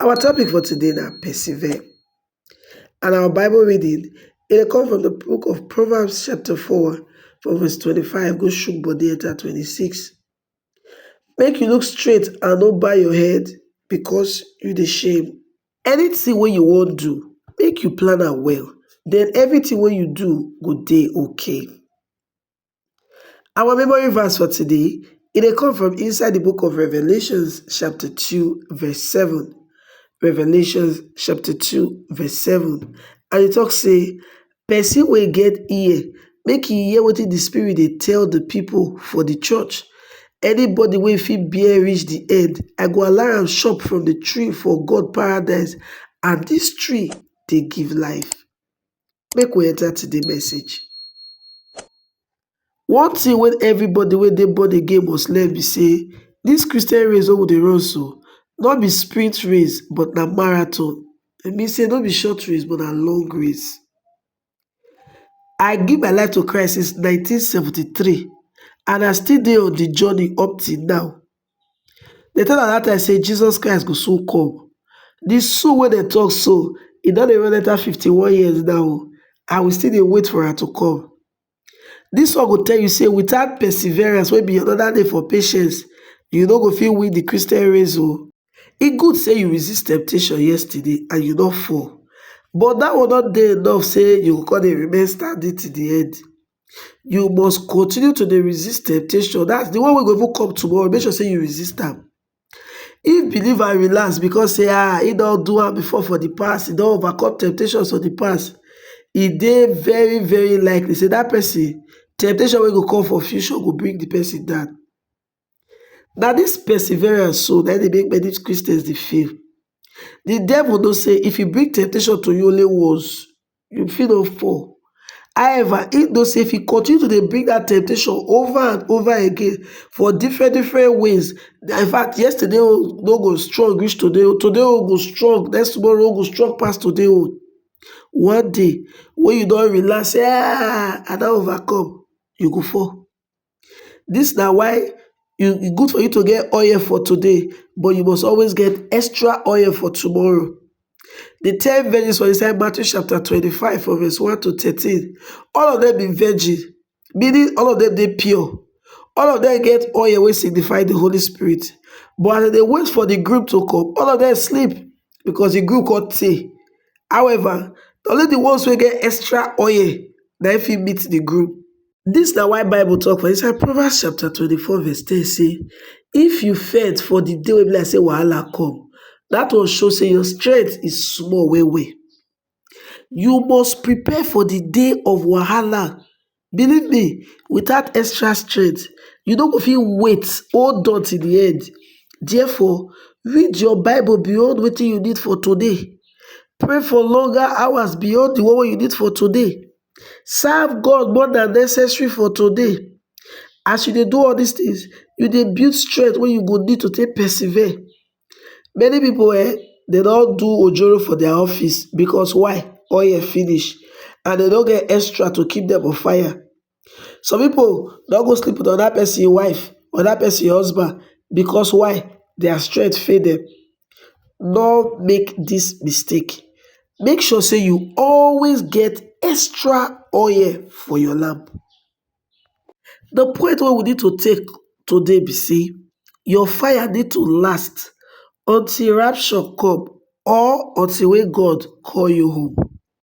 Our topic for today na persevere and our bible reading e dey come from the book of Proverbs chapter four from verse twenty-five go shook body enter twenty-six. Make you look straight and no bow your head because you dey shame. Anything wey you wan do, make you plan am well, then everything wey you do go dey okay. Our memory verse for today, it dey come from inside the book of Revelations chapter 2 verse 7. Revelations chapter 2 verse 7. And it talks say, person will get ear, make e hear what the spirit they tell the people for the church. Anybody will fit bear reach the end, I go allow am chop from the tree for God paradise, and this tree they give life. Make we enter to the message. One thing when everybody when they born again must learn be say this Christian race wey we dey run so no be sprint race but na marathon. E mean say no be short race but na long race. I give my life to Christ since 1973 and I still dey on the journey up till now. Dem tell am dat time say Jesus Christ go soon come. The soon wey dem talk so, e don dey run enter 51 years now o, and we still dey wait for am to come. This one go tell you say without perseverance wey be another name for patience, you no go fit win the Christian race o. E good say you resist temptation yesterday and you no fall, but that one no dey enough say you go come dey remain standing till the end. you must continue to dey resist temptation, that's the one wey go even come tomorrow, make sure say you resist am. If believer relax because say ah, he don do am before for the past, he don overcome temptations of the past, e dey very very likely say that person temptation wey go come for future go bring the person down. Na dis perseverance so na im dey make many Christians dey fail. The devil know say if he bring temptation to you only once, you fit don fall. However, he know say if he continue to dey bring that temptation over and over again for different different ways, in fact, yesterday own no go strong reach today own, today own go strong, next tomorrow own go strong pass today own. One day wey you don relax say um I don overcome, you go fall. Dis na why e good for you to get oil for today but you must always get extra oil for tomorrow. Di ten virgins for inside Matthew chapter twenty five from verse one to thirteen all of dem be virgin meaning all of dem dey pure, all of dem get oil wey signify di holy spirit but as dem dey wait for di groom to come all of dem sleep because di groom come tey however na only di ones wey get extra oil na im fit meet di groom. Dis na why bible talk for inside proverbs chapter twenty four verse ten say if you faint for the day wey be like say wahala come that one show say your strength is small well well you must prepare for the day of wahala believe me without extra strength you no go fit wait hold on till the end therefore read your bible beyond wetin you need for today pray for longer hours beyond the one wey you need for today Serve God more than necessary for today. As you dey do all these things, you dey build strength wey you go need to take persevere. Many people eh, they don't do ojoro for their office because why? Oil finish and they don't get extra to keep them on fire. Some people don't go sleep with another person wife, another person husband because why? Their strength fail them. no make this mistake make sure say you always get extra oil for your lamp the point wey we need to take today be say your fire need to last until rapture come or until wey God call you home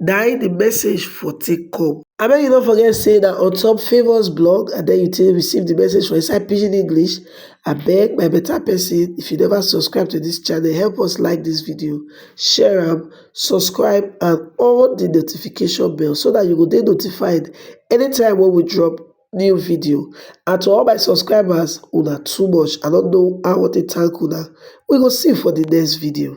na im the message for take come. Abeg you no forget say na on top famous blog and then you take receive the message for inside pidgin english abeg my better person if you never subscribe to this channel help us like this video share am subscribe and on the notification bell so that you go dey notified anytime when we drop new video and to all my subscribers una too much i don't know how to thank una we go see for the next video